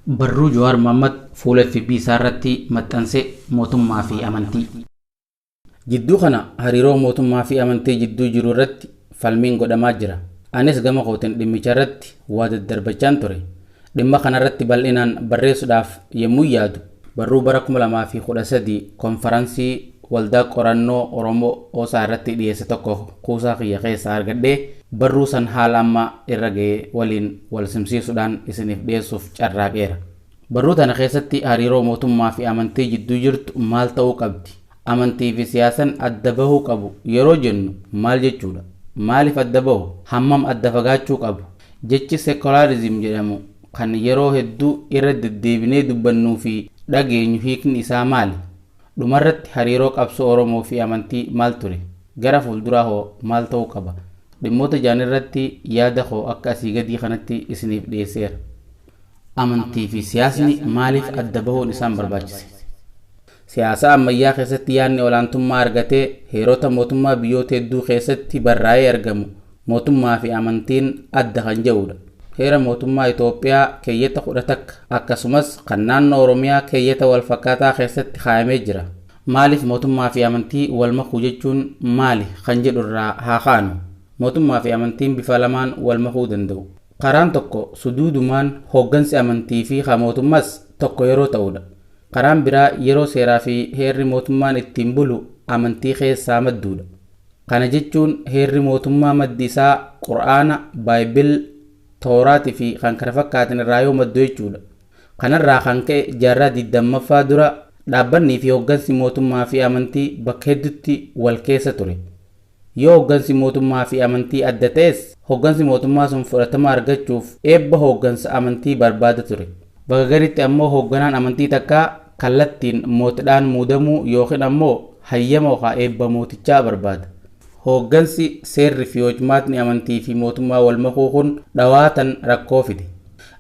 Barruu Jawaar Mohammad fuula fb isaa irratti maxxanse Mootummaa fi Amantii. Jidduu kana hariiroo mootummaa fi amantii jidduu jiru irratti falmiin godhamaa jira. Anis gama kootiin dhimmicha irratti waa daddarbachaan ture. Dhimma kana irratti bal'inaan barreessuudhaaf yemmuun yaadu, barruu bara 2013 konfaransii Waldaa Qorannoo Oromoo Osaa irratti dhiyeesse tokko kuusaa kiyya keessaa argadhee barruu san haala amma irra gahe waliin walsimsiisuudhaan isiniif dhiyeessuuf carraaqeera. Barruu tana keessatti hariiroo mootummaa fi amantii jidduu jirtu maal ta'uu qabdi? Amantii fi siyaasan adda bahuu qabu yeroo jennu maal jechuudha? Maaliif adda bahu? Hammam adda fagaachuu qabu? Jechi Secularism jedhamu kan yeroo hedduu irra deddeebinee dubbannuu fi dhageenyu hiikni isaa maali? Dhumarratti hariiroo qabsoo Oromoo fi amantii maal ture? Gara fuulduraa hoo maal ta'uu qaba? Dhimmoota jahan irratti yaada koo akka asii gadii kanatti isiniif dhiyeesseera. Amantii fi siyaasni maaliif adda bahuun isaan barbaachise? Siyaasa ammayyaa keessatti yaadni olaantummaa argatee heerota mootummaa biyyoota hedduu keessatti barraa'ee argamu, Mootummaa fi amantiin adda kan jedhuudha. Heera Mootummaa Itoophiyaa keeyyata 10 takka akkasumas kan naannoo Oromiyaa keeyyata wal fakkaataa keessatti kaayamee jira. Maaliif mootummaa fi amantii wal makuu jechuun maali kan jedhu irraa haa kaanu. Mootummaa fi amantiin bifa lamaan wal makuu danda'u. Karaan tokko suduudumaan hooggansi amantii fi kan mootummaas tokko yeroo ta'uudha. Karaan biraa yeroo seeraa fi heerri mootummaan ittiin bulu amantii keessaa madduudha. Kana jechuun heerri mootummaa maddi isaa Qur'aana, Bible, Towraat fi kkf irraa yoo maddu jechuudha. Kanarraa kan ka'e jaarraa 20ffaa dura dhaabbanni fi hoggansi mootummaa fi amantii bakka heddutti wal keessa ture. Yoo hoggansi mootummaa fi amantii adda ta'es hoggansi mootummaa sun fudhatama argachuuf eebba hooggansa amantii barbaada ture. Bakka gariitti ammoo hoogganaan amantii takkaa kallattiin mootdhaan muudamuu ykn ammoo hayyama okaa eebba mootichaa barbaada. Hooggansi, seerri fi hojmaatni amantii fi mootummaa wal makuu kun dhawaatan rakkoo fide.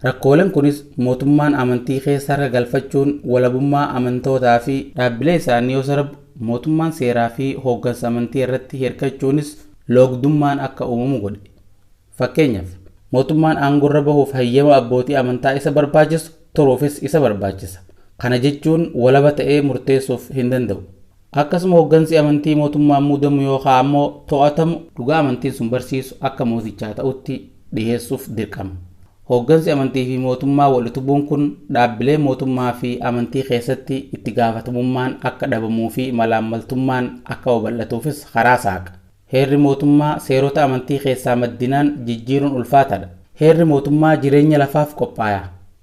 Rakkoolen kunis mootummaan amantii keessa harka galfachuun walabummaa amantootaa fi. dhaabbilee isaanii yoo sarbu, mootummaan seeraa fi hooggansa amantii irratti hirkachuunis loogdummaan akka uumamu godhe. Fakkeenyaaf, mootummaan aangorra bahuuf hayyama abbootii amantaa isa barbaachisu turuufis isa barbaachisa. Kana jechuun walaba ta'ee murteessuuf hin danda'u. Akkasuma hoggansi amantii mootummaan muudamu yookaa ammoo to'atamu dhugaa amantiin sun barsiisu akka mootichaa ta'utti dhiheessuuf dirqama. Hoggansi amantiifi mootummaa wal utubuun kun dhaabbilee mootummaafi amantii keessatti itti gaafatamummaan akka dhabamuufi malaammaltummaan akka babal'atuufis karaa saaqa. Heerri mootummaa seerota amantii keessaa maddinaan jijjiiruun ulfaataadha. Heerri mootummaa jireenya lafaaf qophaaya.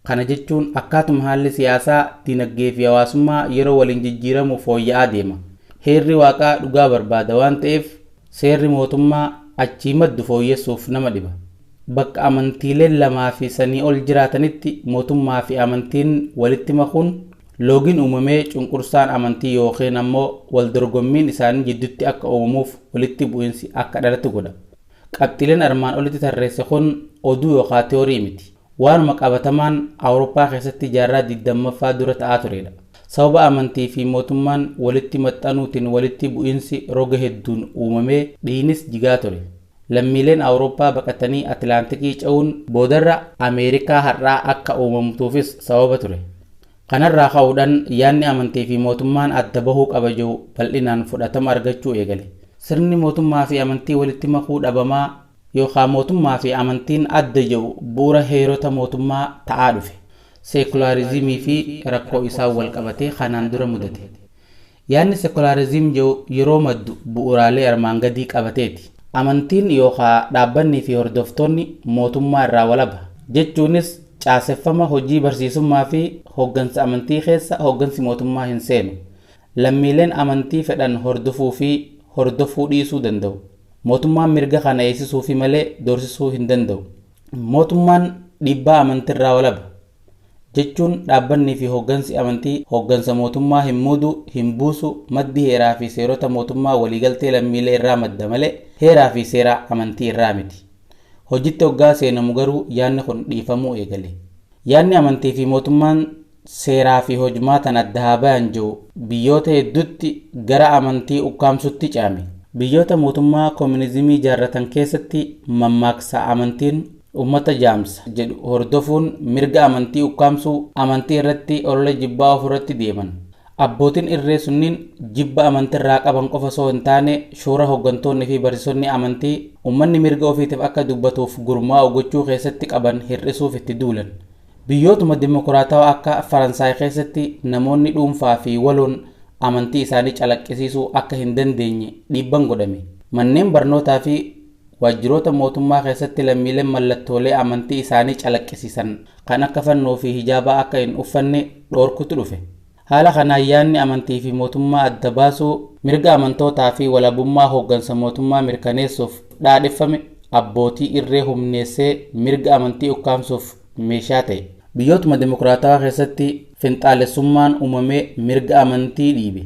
Kana jechuun akkaatuma haalli siyaasaa, dinaggeefi hawaasummaa yeroo waliin jijjiiramu fooyya'aa deema. Heerri Waaqaa dhugaa barbaada waan ta'eef seerri mootummaa achii maddu fooyyessuuf nama dhiba. Bakka amantiileen lamaafi sanii ol jiraatanitti mootummaafi amantiin walitti makuun Loogiin uumamee cunqursaan amantii ykn ammoo waldorgommiin isaanii jidduutti akka uumamuuf walitti bu'insi akka dhalatu godha. Qabxiileen armaan olitti tarreesse kun oduu yookaa tiyoorii miti. Waanuma qabatamaan Awurooppaa keessatti jaarraa 20ffaa dura ta'aa tureedha. Sababa amantii fi mootummaan walitti maxxanuutiin walitti bu'insi roga hedduun uumamee dhiiynis jigaa ture. Lammiileen Awurooppaa baqatanii Atilaantikii ce'uun boodarra Ameerikaa har'aa akka uumamtuufis sababa ture. Kanarraa ka'uudhaan yaadni amantiifi mootummaan adda bahuu qaba jedhu bal'inaan fudhatama argachuu eegale. Sirni mootummaafi amantii walitti makuu dhabamaa yookaa mootummaafi amantiin adda jedhu bu'uura heerota mootummaa ta'aa dhufe. Seekulaariizimiifi rakkoo isaan walqabatee kanaan dura mudate. Yaadni Sekulaarizim jedhu yeroo maddu bu'uuraalee armaan gadii qabateeti. Amantiin yookaa dhaabbanni fi hordoftoonni mootummaa irraa walaba. Jechuunis caaseffama hojii barsiisummaa fi hoggansa amantii keessa hoggansi mootummaa hin seenu. Lammiileen amantii fedhan hordofuu fi hordofuu dhiisuu danda'u. Mootummaan mirga kana eegsisuufi malee doorsisuu hin danda'u. Mootummaan dhiibbaa amantirraa walaba. Jechuun dhaabbannii fi hooggansi amantii hooggansa mootummaa hin muudu, hin buusu, maddi heeraa fi seerota mootummaa waliigaltee lammiilee irraa madda malee heeraa fi seera amantii irraa miti. Hojitti oggaa seenamu garuu yaanni kun dhiifamuu eegale. Yaanni amantii fi mootummaan seeraa fi hojmaatan adda haa bayan je'u biyyoota heddutti gara amantii ukkaamsutti ce'ame. Biyyoota mootummaa kominizimii jaarratan keessatti mammaaksa amantiin ummata jaamsa jedhu hordofuun mirga amantii ukkaamsuu, amantii irratti olola jibbaa oofurratti deeman. Abbootin irree sunniin jibba amantirraa qaban qofa osoo hin taane shoora hoggantoonni fi barsisonni amantii ummanni mirga ofiitif akka dubbatuuf gurmaa'u gochuu keessatti qaban hir'isuuf itti duulan. Biyyootuma dimokiraatawaa akka Faransaay keessatti namoonni dhuunfaa fi waloon amantii isaanii calaqqisiisuu akka hin dandeenye dhiibban godhame. Manneen barnootaa fi waajjiroota mootummaa keessatti lammiileen mallattoolee amantii isaanii calaqqisiisan kan akka fannoo fi hijaabaa akka hin uffanne dhoorkutu dhufe. Haala kanaan yaadni amantii fi mootummaa adda baasuu, mirga amantootaa fi walabummaa hooggansa mootummaa mirkaneessuuf dhaadheffame abbootii irree humneessee mirga amantii ukkaamsuuf meeshaa ta'e. Biyyootuma demokraatawaa keessatti finxaalessummaan uumamee mirga amantii dhiibe.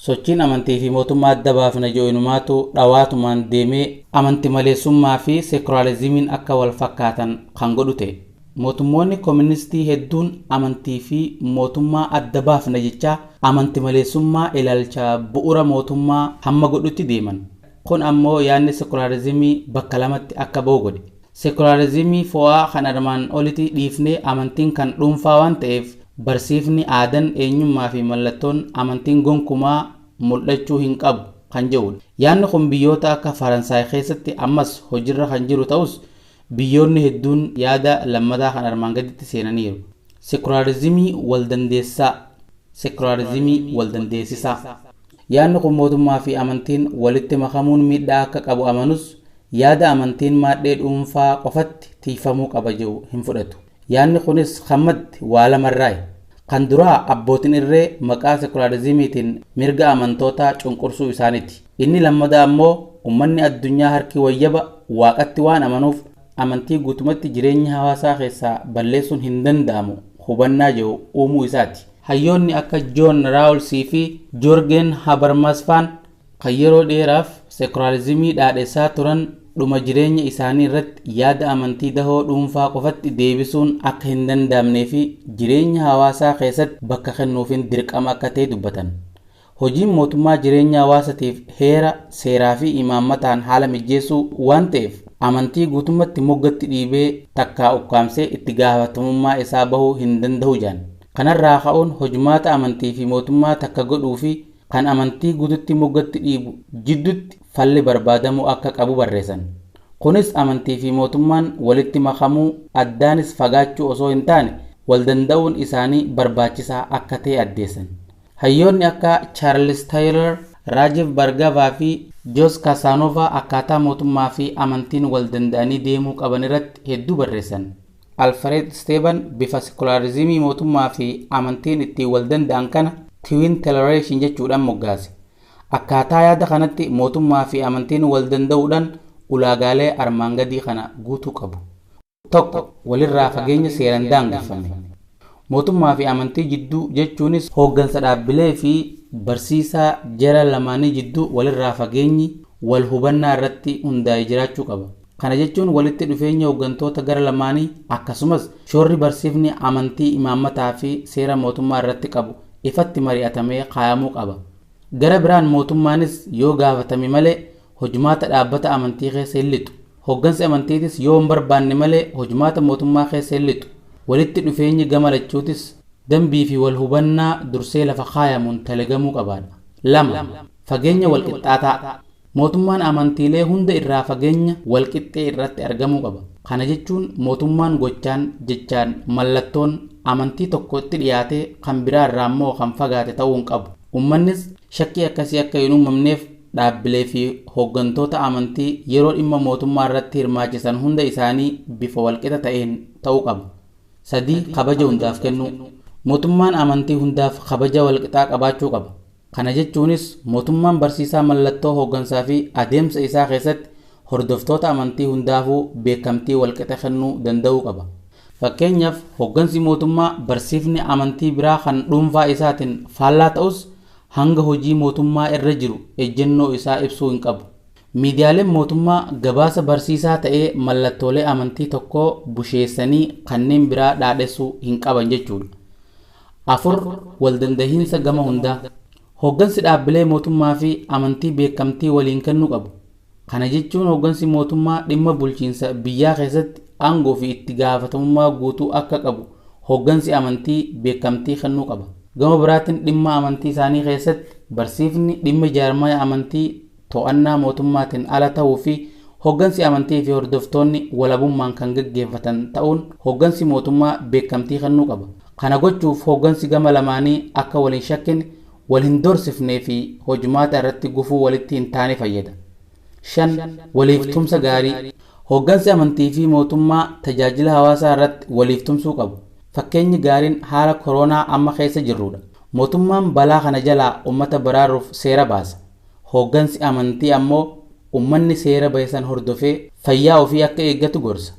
Sochiin amantii fi mootummaa adda baafna jedhu inumaatu dhawaatumaan deemee amantimaleessummaa fi seekulaariziimiin akka wal fakkaatan kan godhu ta'e. Mootummoonni koministii hedduun amantii fi mootummaa adda baafna jechaa amantimaleessummaa ilaalcha bu'ura mootummaa hamma godhutti deeman. Kun ammoo yaadni sekulaarizimii bakka lamatti akka bahu godhe. Sekulaarizimii fo'aa kan armaan oliti dhiifnee amantiin kan dhuunfaa waan ta'eef barsiifni, aadan, eenyummaa fi mallattoon amantiin gonkumaa mul'achuu hin qabu kan jedhuudha. Yaadni kun biyyoota akka Faransaay keessatti ammas hojirra kan jiru ta'us Biyyoonni hedduun yaada lammataa kan armaan gaditti seenaniiru. Sekulaarizimii waldandeessaa, sekulaarizimii waldandeessisaa. Yaadni kun mootummaa fi amantiin walitti makamuun miidhaa akka qabu amanus, yaada amantiin maadhee dhuunfaa qofatti tiikfamuu qaba jedhu hin fudhatu. Yaanni kunis kan madde waa lamarraayi. Kan duraa abbootin irree maqaa sekulaariziimiitiin mirga amantootaa cunqursuu isaaniti. Inni lammadaa ammoo ummanni addunyaa harki wayyaba Waaqatti waan amanuuf amantii guutumatti jireenya hawaasaa keessaa balleessuun hin danda'amu hubannaa jedhu uumuu isaati. Hayyoonni akka Joon Raawulsii fi Joorgeen Habarmaasfaan kan yeroo dheeraaf sekularizimii dhaadhessaa turan dhuma jireenya isaanii irratti yaada amantii dahoo dhuunfaa qofatti deebisuun akka hin danda'amnee fi jireenya hawaasaa keessatti bakka kennuufiin dirqama akka ta'e dubbatan. Hojiin mootummaa jireenya hawaasatiif heera, seeraa fi imaammataan haala mijjeessuu waan ta'eef amantii guutummatti moggatti dhiibee takkaa ukkaamsee itti gaafatamummaa isaa bahuu hin dandahu jedhan. Kanarraa ka'uun hojmaata amantii fi mootummaa takka godhuu fi kan amantii guututti moggatti dhiibu jiddutti falli barbaadamuu akka qabu barreessan. Kunis amantii fi mootummaan walitti makamuu addaanis fagaachuu osoo hin taane wal danda'uun isaanii barbaachisaa akka ta'e addeessan. Hayyoonni akka Charles Taylor, Rajeev Bhargava fi Jos Casanova akkaataa mootummaa fi amantiin wal danda'anii deemuu qaban irratti hedduu barreessan. Alfareed Isteeban bifa sekulaarizimii mootummaa fi amantiin ittiin wal danda'an kana Twin Teleration jechuudhaan moggaase. Akkaataa yaada kanatti mootummaa fi amantiin wal danda'uudhaan ulaagaalee armaan gadii kana guutuu qabu. 1, Walirraa fageenya seeraan daangeffame. Mootummaa fi amantii jidduu jechuunis hooggansa dhaabbilee fi barsiisaa jara lamaanii jidduu walirraa fageenyi wal hubannaa irratti hundaa'e jiraachuu qaba. Kana jechuun walitti dhufeenya hoggantoota gara lamaanii akkasumas shoorri barsiifni amantii imaammataa fi seera mootummaa irratti qabu ifatti mari'atamee kaayamuu qaba. Gara biraan mootummaanis yoo gaafatame malee hojmaata dhaabbata amantii keessa hin lixu. Hoggansi amantiitis yoo hin barbaanne malee hojmaata mootummaa keessa hin lixu. Walitti dhufeenyi gama lachuutis dambii fi wal hubannaa dursee lafa kaayamuun talegamuu qabaadha. 2, Fageenya walqixxaataa. Mootummaan amantiilee hunda irraa fageenya walqixxee irratti argamuu qaba. Kana jechuun mootummaan gochaan, jechaan, mallattoon amantii tokko itti dhiyaatee kan biraa irraa immoo kan fagaate ta'uu hin qabu. Ummannis shakkii akkasii akka hin uumamneef dhaabbilee fi hooggantoota amantii yeroo dhimma mootummaa irratti hirmaachisan hunda isaanii bifa walqixa ta'een ta'uu qaba. 3, Kabaja hundaaf kennuu. Mootummaan amantii hundaaf kabaja walqixaa qabaachuu qaba. Kana jechuunis mootummaan barsiisaa mallattoo hooggansaa fi adeemsa isaa keessatti hordoftoota amantii hundaafuu beekamtii walqixa kennuu danda'uu qaba. Fakkeenyaaf, hooggansi mootummaa barsiifni amantii biraa kan dhuunfaa isaatiin faallaa ta'us hanga hojii mootummaa irra jiru ejjennoo isaa ibsuu hin qabu. Miidiyaaleen mootummaa gabaasa barsiisaa ta'ee mallattoolee amantii tokkoo busheessanii kanneen biraa dhaadhessuu hin qaban jechuudha. 4, Waldandahiinsa gama hundaa. Hooggansi dhaabbilee mootummaa fi amantii beekamtii waliin kennuu qabu. Kana jechuun hooggansi mootummaa dhimma bulchiinsa biyyaa keessatti aangoo fi itti gaafatamummaa guutuu akka qabu hooggansi amantii beekamtii kennuu qaba. Gama biraatiin dhimma amantii isaanii keessatti barsiifni dhimma jaarmaya amantii, to'annaa mootummaatiin ala ta'uu fi hoggansi amantii fi hordoftoonni walabummaan kan gaggeeffatan ta'uun hoggansi mootummaa beekamtii kennuu qaba. Kana gochuuf hoggansi gama lamaanii akka wal hin shakkine, wal hin doorsifnee fi hojmaata irratti gufuu walitti hin taane fayyada. 5, Waliif tumsa gaarii. Hoggansi amantii fi mootummaa tajaajila hawaasaa irratti waliif tumsuu qabu. Fakkeenyi gaariin haala koroonaa amma keessa jirruu dha. Mootummaan balaa kana jalaa ummata baraaruuf seera baasa. Hooggansi amantii ammoo ummanni seera bahe san hordofee fayyaa ofii akka eeggatu gorsa.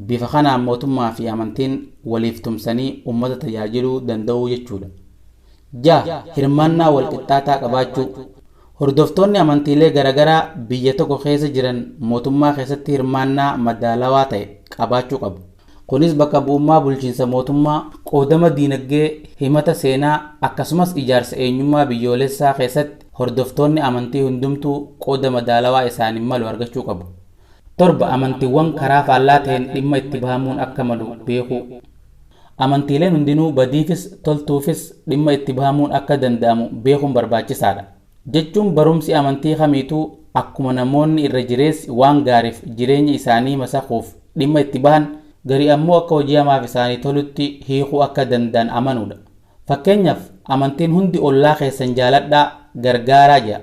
Bifa kanaan mootummaa fi amantiin waliif tumsanii ummata tajaajiluu danda'uu jechuudha. 6, Hirmaannaa walqixxaataa qabaachuu Hordoftoonni amantiilee garagaraa biyya tokko keessa jiran mootummaa keessatti hirmaannaa madaalawaa ta'e qabaachuu qabu. Kunis bakka bu'ummaa bulchiinsa mootummaa, qoodama diinagdee, himata seenaa, akkasumas ijaarsa eenyummaa biyyoolessaa keessatti hordoftoonni amantii hundumtuu qooda madaalawaa isaaniif malu argachuu qabu. 7 amantiwwan karaa faallaa ta'een dhimma itti bahamuun akka malu beekuu. Amantiileen hundinuu badiifis toltuufis dhimma itti bahamuun akka danda'amu beekuun barbaachisaadha. Jechuun barumsi amantii kamiituu akkuma namoonni irra jireessi waan gaariif jireenya isaanii masakuuf dhimma itti bahan gari ammoo akka hojii hamaaf isaanii tolutti hiikuu akka danda'an amanuudha. Fakkeenyaaf amantiin hundi ollaa keessan jaaladhaa, gargaaraa jedha.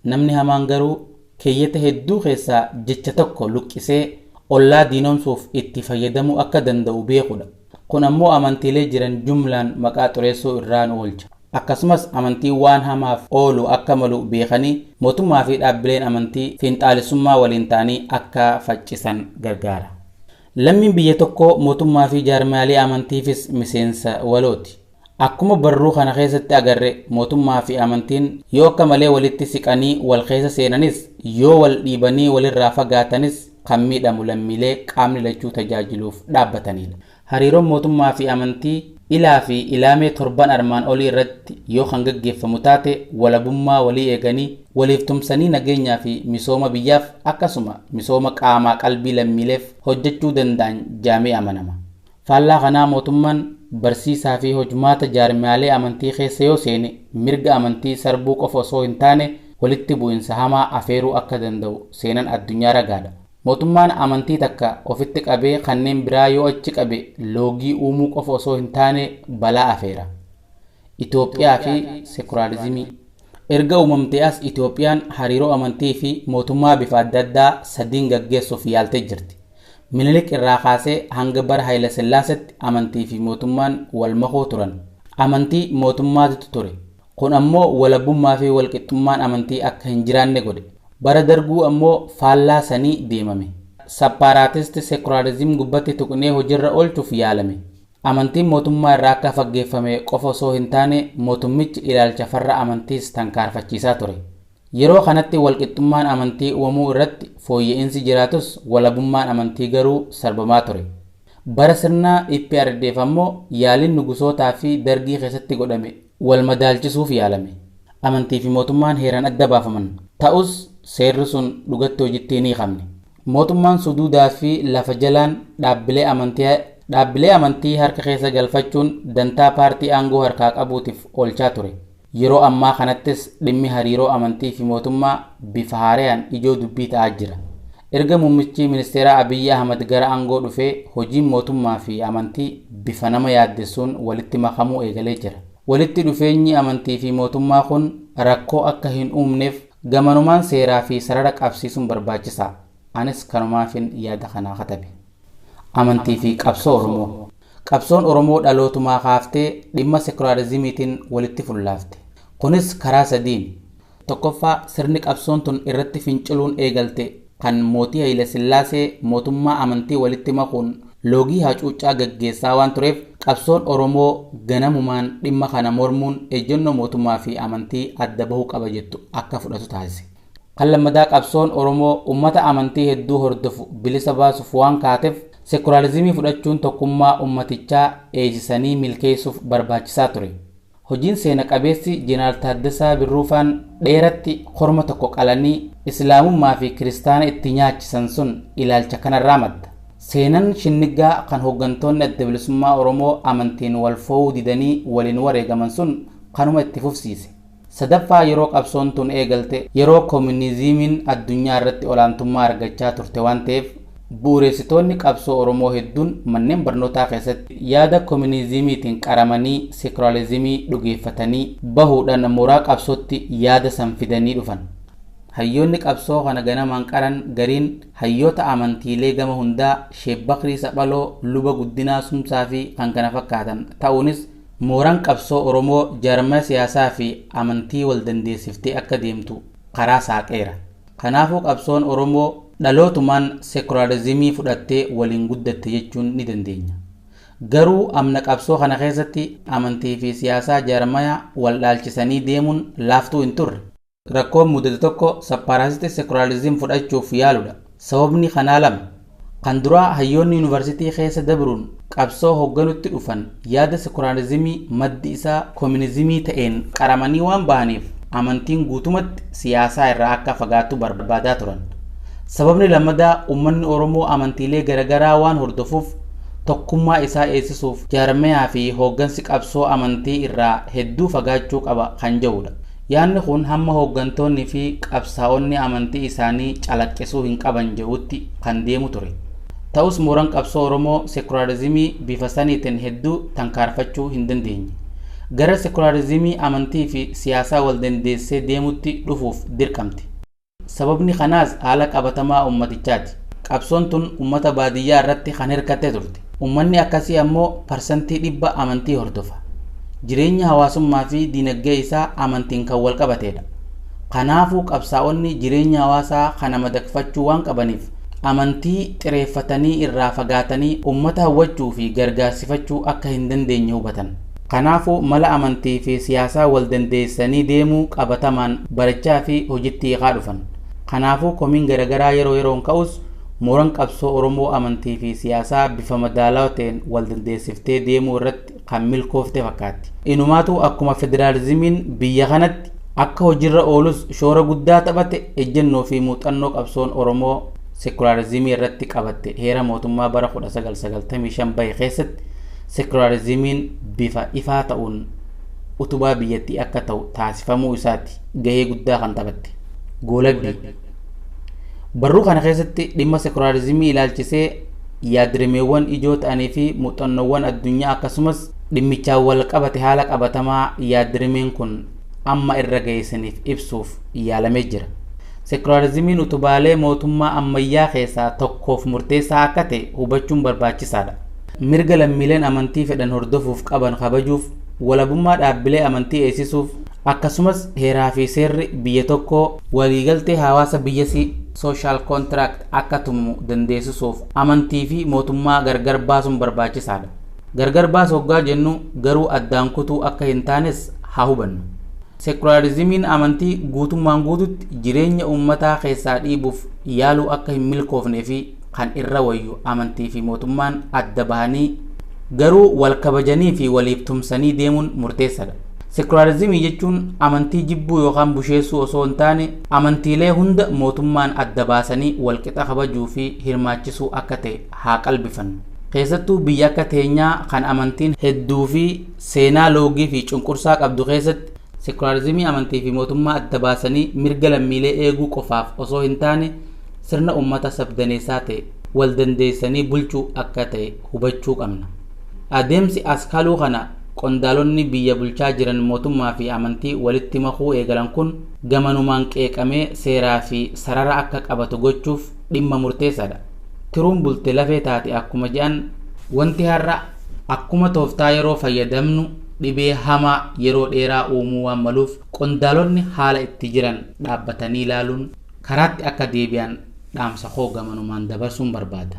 Namni hamaan garuu keeyyata hedduu keessaa jecha tokko luqqisee ollaa diinomsuuf itti fayyadamuu akka danda'u beekuudha. Kun ammoo amantiilee jiran jumlaan maqaa xureessuu irraa nu oolcha. akkasumas amantiin waan hamaaf oolu akka malu beekanii mootummaa fi dhaabbileen amantii fiinxaalessummaa waliin ta'anii akka faccisan gargaara. Lammiin biyya tokkoo mootummaa fi jaarmiyaalee amantiifis miseensa walooti. Akkuma barruu kana keessatti agarre mootummaa fi amantiin yoo akka malee walitti siqanii wal keessa seenanis yoo wal dhiibanii walirraa fagaatanis kan miidhamu lammiilee qaamni lachuu tajaajiluuf dhaabbataniidha. Hariiroon mootummaa fi amantii ilaa fi ilaamee torban armaan olii irratti yoo kan gaggeeffamu taate walabummaa walii eeganii, waliif tumsanii nageenyaa fi misooma biyyaaf akkasuma misooma qaamaa qalbii lammiileef hojjechuu danda'an jaamee amanama. Faallaa kanaa mootummaan barsiisaa fi hojmaata jaarmiyaalee amantii keessa yoo seene mirga amantii sarbuu qofa osoo hin taane walitti bu'insa hamaa afeeruu akka danda'u seenan addunyaa ragaadha. Mootummaan amantii takka ofitti qabee kanneen biraa yoo achi qabe loogii uumuu qofa osoo hin taane balaa afeera. Itoophiyaa fi Sekularizimii. Erga uumamtee as Itoophiyaan hariiroo amantii fi mootummaa bifa adda addaa sadiin gaggeessuuf yaaltee jirti. Minilik irraa kaasee hanga bara Hayilasillaasetti amantii fi mootummaan wal makoo turan. Amantii mootummaatitu ture. Kun ammoo walabummaafi walqixxummaan amantii akka hin jiraanne godhe. Bara Darguu ammoo faallaa sanii deemame. Sappaaraatisti seekulaariziim gubbatti tuqnee hojirra oolchuuf yaalame. Amantiin mootummaa irraa akka faggeeffame qofa osoo hin taane mootummichi ilaalcha farra amantiis tankaarfachiisaa ture. Yeroo kanatti walqixxummaan amantii uumamuu irratti fooyya'insi jiraatus walabummaan amantii garuu sarbamaa ture. Bara sirna eprdf ammoo yaaliin nugusootaafi Dargii keessatti godhame wal madaalchisuuf yaalame. Amantii fi mootummaan heeraan adda baafaman. Ta'us, seerri sun dhugatti hojitti hin hiikamne. Mootummaan suduudaa fi lafa jalaan dhaabbilee amantii dhaabbilee amantii harka keessa galfachuun dantaa paartii aangoo harkaa qabuutif oolchaa ture. Yeroo ammaa kanattis dhimmi hariiroo amantii fi mootummaa bifa haarayaan ijoo dubbii ta'aa jira. Erga Muummichi Ministeeraa Abiy Ahmad gara aangoo dhufee hojiin mootummaa fi amantii bifa nama yaaddessuun walitti makamuu eegalee jira. Walitti dhufeenyi amantii fi mootummaa kun rakkoo akka hin uumneef gamanumaan seeraa fi sarara qabsiisuun barbaachisaa. Anis kanumaafin yaada kana katabe. Amantii fi Qabsoo Oromoo. Qabsoon Oromoo dhalootumaa kaaftee dhimma sekulaarizimiitiin walitti fullaafte. Kunis karaa sadiini. Tokkoffaa, sirni qabsoon tun irratti finciluun eegalte kan mootii Hayilasillaasee mootummaa amantii walitti makuun loogii hacuuccaa gaggeessaa waan tureef qabsoon Oromoo ganamumaan dhimma kana mormuun ejjennoo mootummaa fi amantii adda bahu qaba jettu akka fudhatu taasise. Kan lammadaa qabsoon Oromoo ummata amantii hedduu hordofu bilisa baasuuf waan kaatef sekularizimii fudhachuun tokkummaa ummatichaa dheeysisanii milkeeysuuf barbaachisaa ture. Hojiin seena qabeessi Jeneraal Taaddasaa Birruufaan dheeratti korma tokko qalanii Islaamummaa fi Kiristaana itti nyaachisan sun ilaalcha kanarraa madda. Seenan shinniggaa kan hoggantoonni Adda Bilisummaa Oromoo amantiin wal foo'uu didanii waliin wareegaman sun kanuma itti fufsiise. Sadaffaa yeroo qabsoon tun eegalte yeroo Komuniziimiin addunyaa irratti olaantummaa argachaa turte waan ta'eef, Bu'ureessitoonni qabsoo Oromoo hedduun manneen barnootaa keessatti yaada kominiiziimiitiin qaramanii seekulaalizimii dhugeeffatanii bahuudhaan mooraa qabsootti yaada san fidanii dhufan. Hayyoonni qabsoo kana ganamaan qaran gariin hayyoota amantiilee gama hundaa Sheek Bakrii Saphaloo, Luba Guddinaa Sumsaa fi kkf ta'uunis mooraan qabsoo Oromoo jaarmaya siyaasaa fi amantii wal dandeessiftee akka deemtu karaa saaqeera. Kanaafuu qabsoon Oromoo dhalootumaan sekulaarizimii fudhattee waliin guddatte jechuun ni dandeenya. Garuu amna qabsoo kana keessatti amantii fi siyaasaa jaarmaya wal dhaalchisanii deemuun laaftuu hin turre. Rakkoon mudate tokko sappaaraasitii sekulaariziim fudhachuuf yaaludha. Sababni kanaa lama. Kan duraa hayyoonni yunivarsitii keessa dabruun qabsoo hogganutti dhufan yaada sekulaarizimii maddi isaa kominizimii ta'een qaramanii waan bahaniif amantiin guutumatti siyaasaa irraa akka fagaatu barbaadaa turan. Sababni lammadaa ummanni Oromoo amantiilee garagaraa waan hordofuuf tokkummaa isaa eegsisuuf jaarmayaa fi hooggansi qabsoo amantii irraa hedduu fagaachuu qaba kan jedhuudha. Yaanni kun hamma hooggantoonni fi qabsaa'onni amantii isaanii calaqqisuu hin qaban jedhuutti kan deemu ture. Ta'us mooran qabsoo Oromoo sekulaarizimii bifa saniitin hedduu tankaarfachuu hin dandeenye. Gara sekulaarizimii amantii fi siyaasaa wal dandeessee deemutti dhufuuf dirqamte. Sababni kanaas haala qabatamaa ummatichaati. Qabsoon tun ummata baadiyyaa irratti kan hirkatte turte. Ummanni akkasii ammoo parsantii dhibba amantii hordofa. Jireenya hawaasummaa fi diinaggee isaa amantiin kan wal qabateedha. Kanaafuu qabsaa'onni jireenya hawaasaa kana madaqfachuu waan qabaniif amantii xireeffatanii irraa fagaatanii ummata hawwachuu fi gargaarsifachuu akka hin dandeenye hubatan. Kanaafuu mala amantii fi siyaasaa wal dandeessanii deemuu qabatamaan barachaa fi hojitti hiikaa dhufan. Kanaafuu komiin garagaraa yeroo yeroon ka'us mooran qabsoo Oromoo amantii fi siyaasaa bifa madaalawa ta'een wal dandeessiftee deemuu irratti kan milkoofte fakkaatti. Inumaatuu akkuma federaalizimiin biyya kanatti akka hojirra oolus shoora guddaa taphate ejjennoo fi muuxannoo qabsoon Oromoo sekulaarizimii irratti qabatte heera mootummaa bara 1995 bahe keessatti Sekulaariziimiin bifa ifaa ta'uun utubaa biyyattii akka ta'u taasifamuu isaati gahee guddaa kan taphatte. Goolabbii. Barruu kana keessatti dhimma sekulaariziimii ilaalchisee yaadrimeewwan ijoo ta'anii fi muuxannoowwan addunyaa akkasumas dhimmichaan wal qabate haala qabatamaa yaadrimeen kun amma irra ga'e isiniif ibsuuf yaalamee jira. Sekulaariziimiin utubaalee mootummaa ammayyaa keessaa tokkoof murteessaa akka ta'e hubachuun barbaachisaadha. Mirga lammiileen amantii fedhan hordofuuf qaban kabajuuf, walabummaa dhaabbilee amantii eegsisuuf, akkasumas heeraa fi seerri biyya tokkoo waliigaltee hawaasa biyyasii, social contract, akka tumu dandeessisuuf amantii fi mootummaa gargar baasuun barbaachisaa dha. Gargar baasu oggaa jennu garuu addaan kutuu akka hin taanes haa hubannu. Sekulaarizimiin amantii guutummaan guututti jireenya uummataa keessaa dhiibuuf yaaluu akka hin milkoofne fi kan irra wayyu amantii fi mootummaan adda bahanii garuu wal kabajanii fi waliif tumsanii deemuun murteessadha. Sekulaarizimii jechuun amantii jibbuu yookaan busheessuu osoo hin taane amantiilee hunda mootummaan adda baasanii wal qixa kabajuu fi hirmaachisuu akka ta'e haa qalbifannu. Keessattuu biyya akka teenyaa kan amantiin hedduu fi seenaa loogii fi cunqursaa qabdu keessatti Sekulaarizimii amantii fi mootummaa adda baasanii mirga lammiilee eeguu qofaaf osoo hin taane sirna ummata sab-daneessaa ta'e wal dandeessanii bulchuu akka ta'e hubachuu qabna. Adeemsi as kaluu kana qondaalonni biyya bulchaa jiran mootummaa fi amantii walitti makuu eegalan kun gamanumaan qeeqamee seeraa fi sarara akka qabatu gochuuf dhimma murteessaa dha. Tiruun bulte lafee taati akkuma jedhan, wanti har'a akkuma tooftaa yeroo fayyadamnu dhibee hamaa yeroo dheeraa uumuu waan maluuf qondaalonni haala itti jiran dhaabbatanii ilaaluun karaatti akka deebi'an dhaamsa koo gamanumaan dabarsuun barbaada.